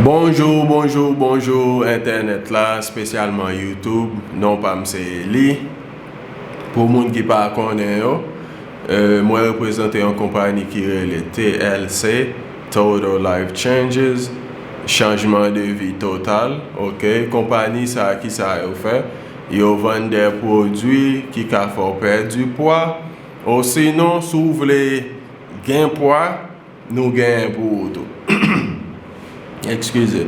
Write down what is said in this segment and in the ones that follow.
Bonjour bonjour bonjour entènèt la spesyalman youtube non pam se Eli pou moun ki pa konnen yo mwen reprezante yon konpani ki rele TLC Total Life Changes chanjman de vi total ok konpani sa ki sa yo fè yo vann de pwodwi ki ka fè w pèdi pwa osinon si w vle gen pwa. Nou genyen pou ou tou. Ekskize.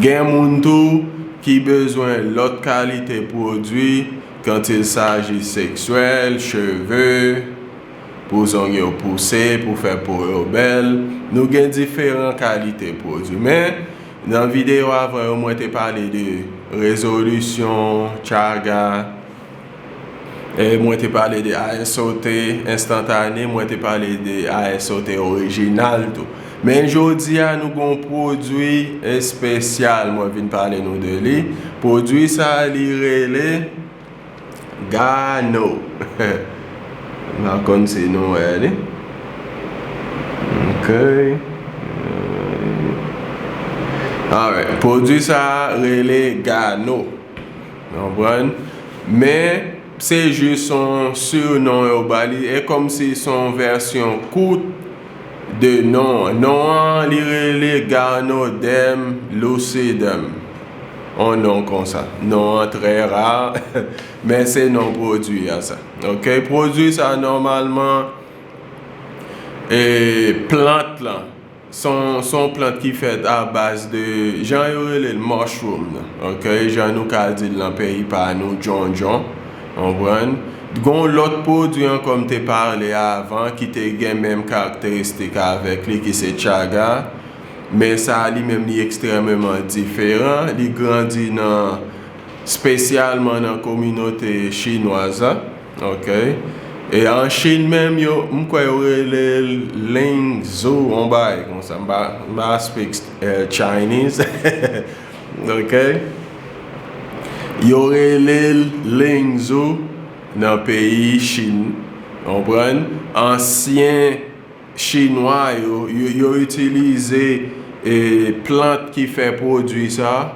Gen moun tou ki bezwen lòt kalite pwodwi kant il saji seksyèl, cheve, pou zong yo pouse, pou fè po yo bèl. Nou gen diferan kalite pwodwi. Men, nan videyo avan yo mwen te pale de rezolisyon, chaga. Mwen te pale de ASOT enstantane, mwen te pale de ASOT orijinal tou. Men jodi a nou gon pwodwi espesyal mwen vin pale nou de li. Pwodwi sa li rele Gano. M pa konn si nou wè li. Pwodwi sa rele Gano. Nou konprann? Men, se jis yon surnom yo ba li. E kòm si se yon vèsyon kout de non an. Non an, li rele Garnodem lucidum. Yon non konsa. Non an trè ra, men se non pwodui a sa. Ok? Pwodui sa nòmalman e plant lan Se yon plant ki fèt a baz de jan yo rele l mushroom nan ok jan nou ka di l nan peyi pa nou djondjon ou konprann. T gen yon lòt pwodwi ankò m te pale avan ki te gen menm karakteristik avèk li ki se chaga men sa li menm li ekstrèmeman diferan li grandi nan Spesyalman nan kominote chinwaz la ok. E an chine menm yo m kwè yo rele l ling zu on bagay konsa m pa speak chinese ok. Yo rele l ling zu nan peyi chine konprann. Ansyen chinwa yo yo itilize plant ki fè pwodwi sa.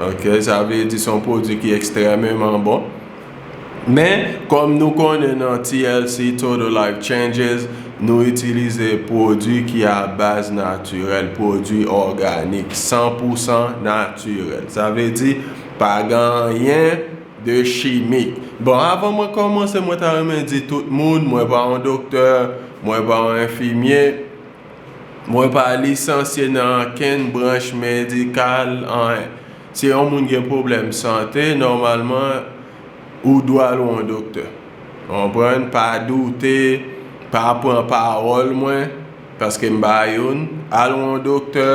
Ok sa vle di son pwodwi ki ekstrememan bon. Men kòm nou konnen nan TLC Total Life Changes nou itilize pwodwi ki a baz natirèl, pwodwi òganik, san pou san natirèl. Sa vle di pa gen anyen de chimik. Bon avan mwen kòmanse mwen ta renmen di tout moun mwen pa yon doktè, mwen pa yon enfimye. Mwen pa lisansye nan ankenn branch medikal anyen. Si yon moun gen pwoblèm sante, nòmalman ou dwe al wè yon doktè. Konprann? Pa doute, pa pran pawòl mwen, paske m pa youn. Al wè yon doktè,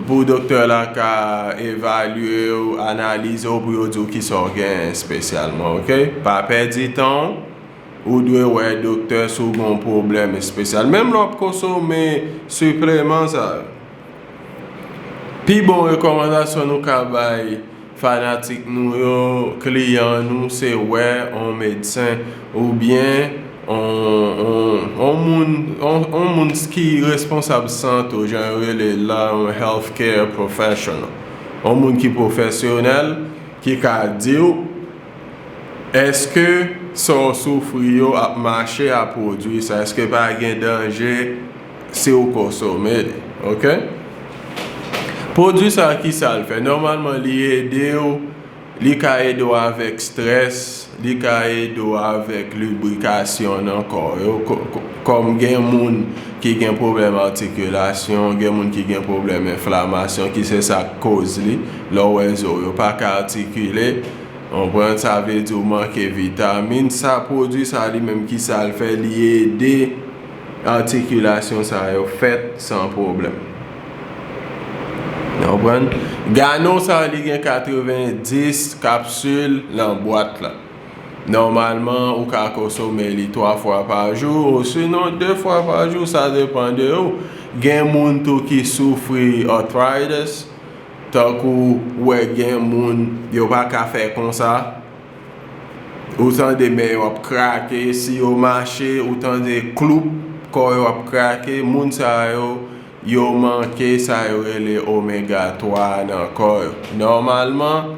pou doktè la ka evalye w, analize w pou yo di w kisa w genyen espesyalman, ok? Pa pèdi tan w. Ou dwe wè doktè si w gen yon pwoblèm espesyal. Menm lè w ap konsome sipleman sa yo, pi bon rekòmandasyon nou ka bay fanatik nou yo, kliyan nou, se wè yon medsen oubyen yon moun ki responsab sante w, jan yo rele l la, yon health care professional. Yon moun ki pwofesyonèl, ki ka di w. Eske sa w soufri yo ap mache a pwodwi sa? Eske pa gen danje si w konsome li? Ok. Pwodwi sa ki sa l fè? Nòmalman li ede w, li ka ede w avèk strès, li ka ede w avèk librikasyon nan kò yo. Kòm gen moun ki gen pwoblèm atikilasyon, gen moun ki gen pwoblèm enflamasyon ki se sa k koz li. Lè w wè zo w yo pa ka atikile, ou konprann sa vle di ou manke vitamin, sa pwodui sa li menm ki sa l fè, li ede atikilasyon sa yo fèt san pwoblèm. Nou konprann? Ganon sa li gen 90 kapsil nan bwat la. Nòmalman ou ka konsome li 3 fwa pa jou osinon 2 fwa pa jou sa depan de ou. Gen moun tou ki soufri arthritis. Tankou wè gen moun yo paka fè konsa ou tande men yo ap krake si yo mache ou tande kloup kò yo ap krake moun sa yo yo manke sa yo rele omega 3 a nan kò yo nòmalman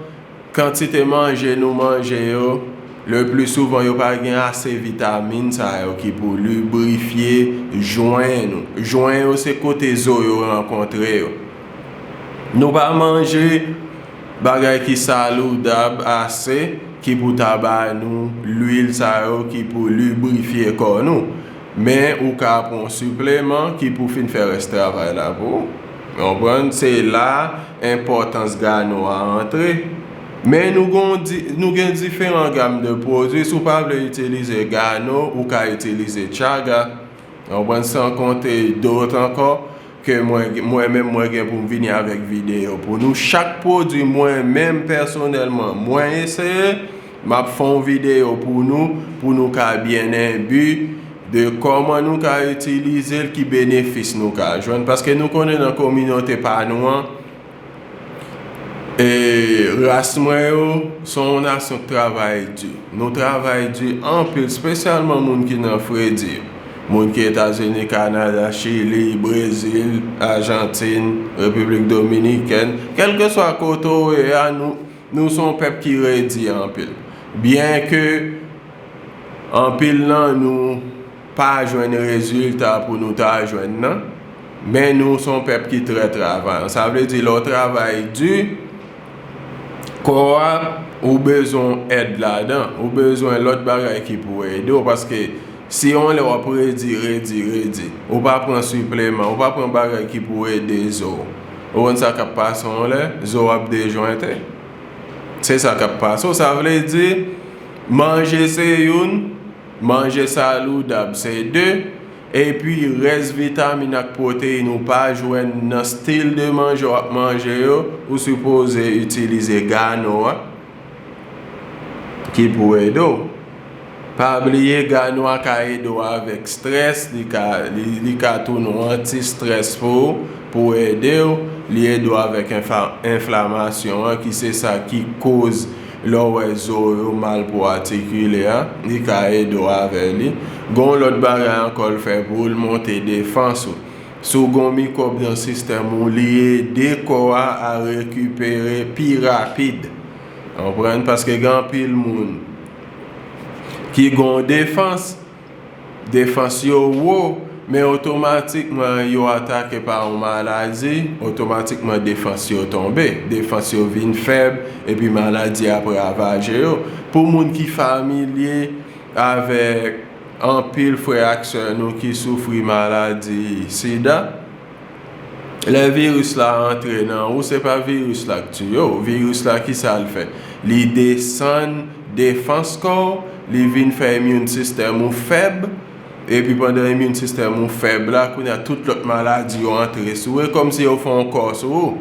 Kantite manje nou manje yo, le pli souvan yo pa gen ase vitamin sa yo ki pou librifye jwen nou. Jwen yo se kote zo yo rankontre yo. Nou pa manje bagay ki saloudab ase ki pou ta ba nou lwil sa yo ki pou librifye kò nou. Men ou ka pran yon sipleman ki pou fin fè rès travay la pou ou. Konprann, se la enpòtans gano a antre. Men nou gon nou gen diferan gam de pwodwi, si w pa vle itilize gano, ou ka itilize chaga. Konprann, san konte dot ankò ke mwen mwen menm mwen gen pou m vini avèk videyo pou nou. Chak pwodwi mwen menm pèsonèlman mwen eseye. Map fè yon video pou nou pou nou ka byen enbi de kòman nou ka itilizel ki benefis nou ka jwenn paske nou konnen nan kominote pa nou an ras mwen yo son yon nasyon k travay di nou travay di anpil spesyalman moun ki nan fredi moun ki etazini kanada chili brezil ajantin repiblik dominikèn kelkeswa kote w ye a nou Nou son pèp ki redi anpil. Byen ke anpil nan nou pa jwenn rezilta pou nou ta jwenn nan, men nou son pèp ki trè travayan. Sa vle di lè w travay di, kò a ou bezwen èd ladan, ou bezwen lòt bagay ki pou ede w. Paske si yon lè w ap redi, redi, redi, ou pa pran sipleman, ou pa pran bagay ki pou ede zo w. Ou konn sa kap pase yon lè, zo ap dejointe. Se sa kap pase w. Sa vle di, manje se youn, manje saloudab se de, epi rès vitamin ak pwoteyin ou pa jwenn nan stil de manje w ap manje yo, ou sipoze itilize gano a. ki pou ede w. Pa bliye gano a ka ede w avèk strès, li ka tou nou anti strès pou ou pou ede w, li ede w avèk enflamasyon an ki se sa ki koz lè w wè zo yo mal pou atikile a, li ka ede w avè li. Gon lòt bagay ankò l fè pou ou, l monte defans ou. Si w gen yon mikwòb nan sistèm ou, li ede kò a a rekipere pi rapid. Konprann? Paske gen anpil moun ki gen yon defans, defans yo wo, men otomatikman yo atake pa yon maladi, otomatikman defans yo tonbe. Defans yo vin fèb, epi maladi ap ravaje yo. Pou moun ki familye avèk. Anpil frè ak sè nou ki soufri maladi sida, lè viris la antre nan ou se pa viris la k tiye w, viris la kisa l fè? Li desann defans kò w, li vin fè immune system ou fèb, epi pandan immune system ou fèb la kounye a tout lòt maladi yo antre sou ou, e kòmsi yo fè yon kò sou ou.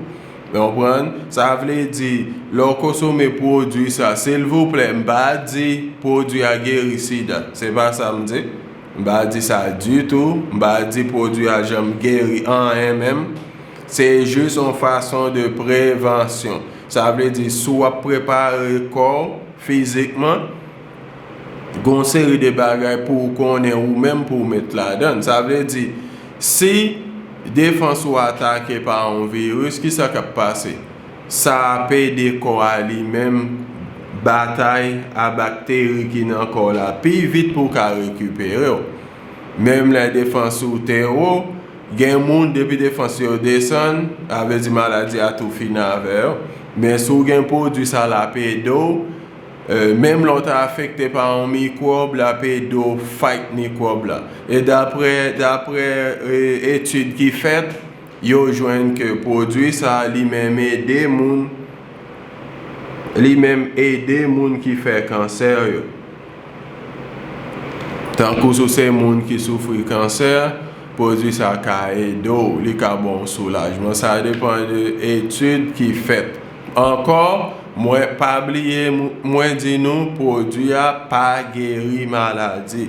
Nou konprann? Sa vle di, lè w konsome pwodui sa, silvouplè, m pa di pwodui a geri sida. Se pa sa m di. M pa di sa ditou. M pa di pwodui a janm geri anyen menm. Se jis yon fason de prevansyon. Sa vle di, si w ap prepare kò w fizikman, gen yon seri de bagay pou ou konnen ou menm pou ou met ladan. Sa vle di, si defans ou atake pa yon viris, ki sa k ap pase? Sa ap ede kò a li menm batay a bakteri ki nan kò w la pi vit pou w ka rekipere w. Menm lè defans ou te wo, gen moun depi defans yo desann, sa vle di maladi a tou fini avè yo. Men si w gen pwodui sa l ap ede w Menm lè w ta afekte pa yon mikwòb, l ap ede w fight mikwòb la. E daprè daprè etid ki fèt, yo jwenn ke pwodui sa a li menm ede moun li menm ede moun ki fè kansè yo. Tankou si w se moun ki soufri kansè, pwodui sa ka ede w, li ka ba w soulajman. Sa depan de etid ki fèt. Ankò, mwen pa bliye mwen di nou pwodwi a pa geri maladi.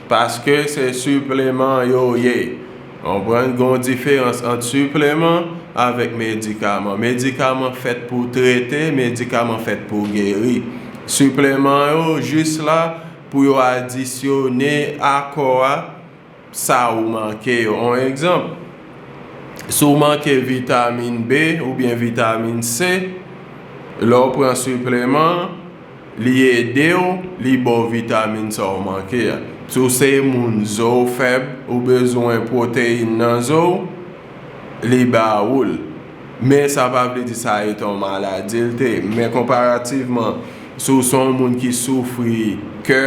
Paske se sipleman yo ye. Konprann gon diferans ant sipleman avèk medikaman. Medikaman fèt pou trete, medikaman fèt pou geri. Sipleman yo jis la pou yo adisyone akò a. sa ou manke yo. On egzanp, si w manke vitamin B oubyen vitamin C, lè w pran sipleman an, li ede w, li ba w vitamin sa w manke a. Si w se moun zo w fèb, ou bezwen pwoteyin nan zo w, li ba ou l. Men sa pa vle di sa etan w maladi l te. Men konparativman, si w se yon moun ki soufri kè,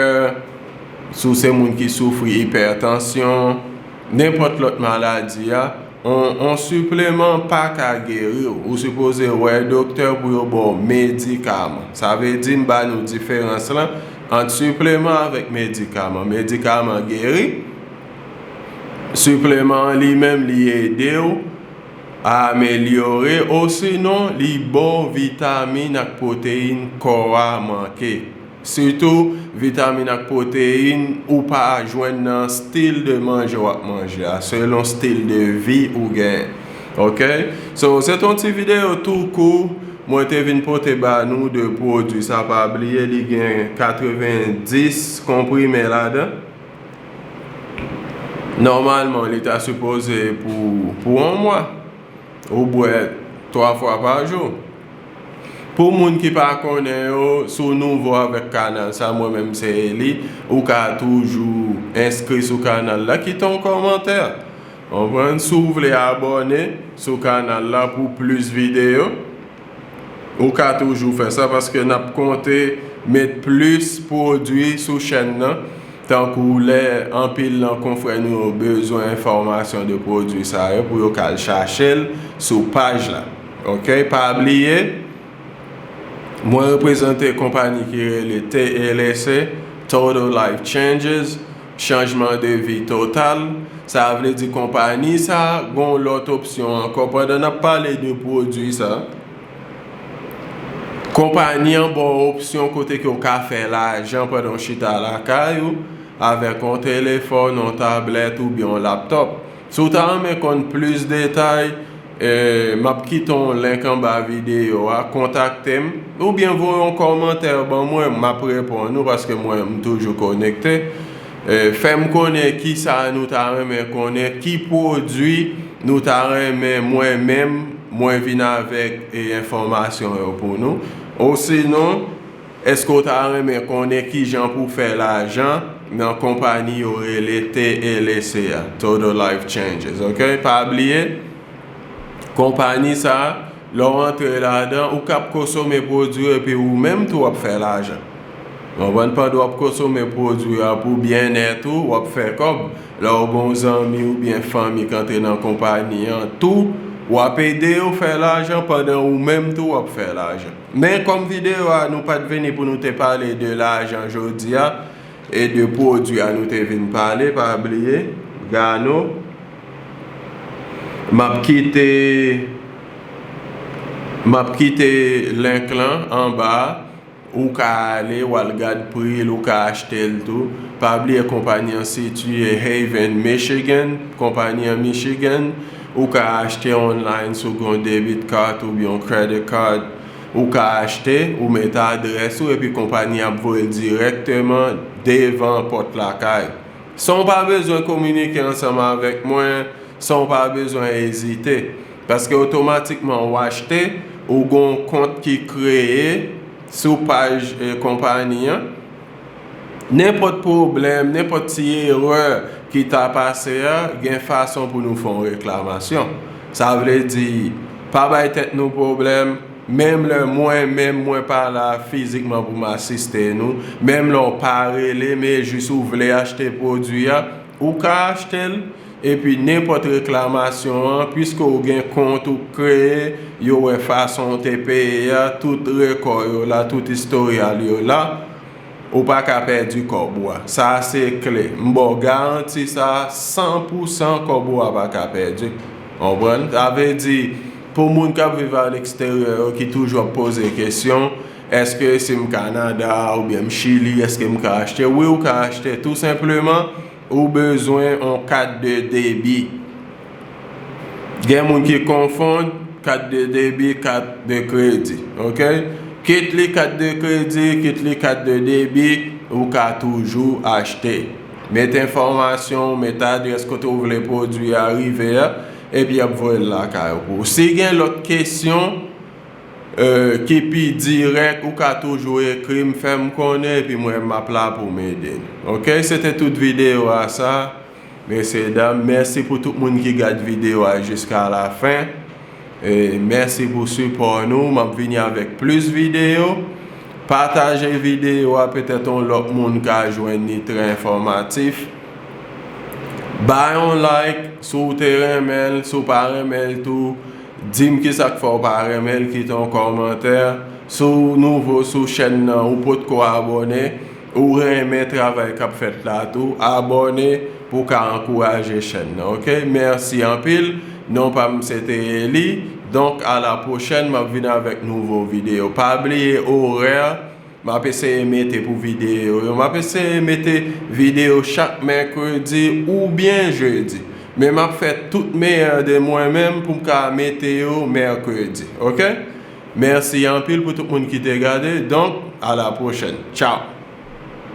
Si w se moun ki soufri ipètansyon, nenpòt lòt maladi, yon sipleman pa ka geri w. Ou sipoze wè doktè pou yo ba w medikaman. Sa vle di m ba nou diferans lan ant sipleman avèk medikaman. Medikaman geri, sipleman an li menm li ede w amelyore osinon li ba w vitamin ak pwoteyin kò a manke. Sitou vitamin ak pwoteyin ou pa jwenn nan stil de manje wap manje a selon stil de vi ou gen ok so se ton ti video tou kou mwen te vin pote ba nou de pwodwi sa pa bliye li gen 90 konprime ladan nòmalman li ta sipoze pou pou 1 mwa ou bwè 3 fwa pa jou. Pou moun ki pa konnen yo, si w nouvo avèk kanal sa, mwen menm se Eli, ou ka toujou enskri sou kanal la, kite yon kòmantè, konprann, si w vle abòne sou kanal la pou plis videyo, ou ka toujou fè sa paske n ap konte met plis pwodui sou chèn nan, tankou lè anpil nan konfrè nou yo bezwen enfòmasyon de pwodui sa yo pou yo ka al chache l sou paj la. Ok pa bliye Mwen reprezante konpani ki rele TLC, Total Life Changes, Chanjman de vi total. Sa vle di konpani sa gon lòt opsyon ankò pandan nap pale de pwodwi sa. Konpani an ba w opsyon kote ke w ka fè lajan pandan w chita lakay ou avèk yon telefòn, yon tablèt oubyen yon laptop. Si w ta renmen konn plis detay, m ap kite yon link anba videyo a, kontakte m, oubyen voye yon kòmantè ban mwen, m ap reponn ou paske mwen m toujou konekte. Fè m konnen kisa nou ta renmen konnen, ki pwodui nou ta renmen mwen menm mwen vin avèk enfòmasyon yo pou nou, osinon. Èske w ta renmen konnen kijan pou w fè lajan nan konpani yo rele TLC a, Total Life Changes, ok? Pa bliye, konpani sa, lè w antre ladan, ou kab kosome pwodwi yo epi ou menm tou w ap fè lajan. Konprann? Pandan w ap kosome pwodwi a pou byennèt ou, w ap fè kòb. Lè w gen yon zanmi oubyen fanmi k antre nan konpani an tou, w ap ede yo fè lajan pandan ou menm tou w ap fè lajan. Men kòm video a nou pat vini pou nou te pale de lajan jodia e de pwodwi a nou te vin pale pa bliye gano map kite map kite link lan anba a ou ka ale wal gad pril ou ka achtel tou pa bliye konpani an sitiye Haven Michigan konpani an Michigan. Ou ka achte online sou yon debit card oubyen yon credit card. Ou ka achte, ou met adrès ou epi konpani ap voye l dirèkteman devan pòt lakay. San w pa bezwen kominike ansanm avèk mwen, san w pa bezwen ezite. Paske otomatikman ou achte, ou gen yon kont ki kreye sou paj konpani an. Nenpòt pwoblèm, nenpòt ti erè ki ta pase a, gen fason pou nou fè yon reklamasyon. Sa vle di, pa bay tèt nou pwoblèm, menm lè mwen menm mwen pa la fizikman pou m asiste nou, menm lè w pa rele men jis ou vle achte pwodui a, ou ka achte l. Epi nenpòt reklamasyon an, pwiske ou gen kont ou kreye, yo wè fason ou te peye a, tout rekò yo la, tout istoryal yo la, ou pa ka pèdi kòb ou a. Sa a se kle. M ba w garanti sa a, san pou san kòb ou a pa ka pèdi. Konprann? Sa vle di, pou moun k ap viv aleksteryè yo ki toujou ap poze kesyon, èske si m Kanada oubyen m Chili, èske m ka achte? Wi ou ka achte, tou senpleman. Ou bezwen on kat de debi. Gen moun ki konfond kat de debi kat de kredi. Ok. Kit li kat de kredi, kit li kat de debi, ou ka toujou achte. Met enfòmasyon ou, met adrès kote ou vle pwodwi a rive a, epi y ap voye l lakay ou. Si gen lòt kesyon, Kipi dirèk ou ka toujou ekrim fèm konnen epi mwen map la poum ede ok se te tout video a sa mesye dam mèsi pou tout moun ki gad video a jiska la fen mèsi pou sipò nou map vini avèk plis video pataje video a petèt yon lòt moun ka jwenn li trè enfòmatif ba yon like si w te renmen l si w pa renmen l tou. Dim ki sak fè ou pa renmen l kite yon kòmantè si w nouvo sou chèn nan ou potko abòne ou renmen travay kap fèt la tou abòne pou w ka ankouraje chèn nan ok mèsi anpil non pa m se te Eli donk a la pwochèn map vin avèk nouvo videyo pa bliye orè Map eseye mete pou video yo. Map eseye mete video chak mèkredi ou byen jedi. Men map fè tout meyè de mwen menm poum ka mete yo mèkredi ok. Mèsi anpil pou tout moun ki te gade donk a la pwochèn. Tchaw!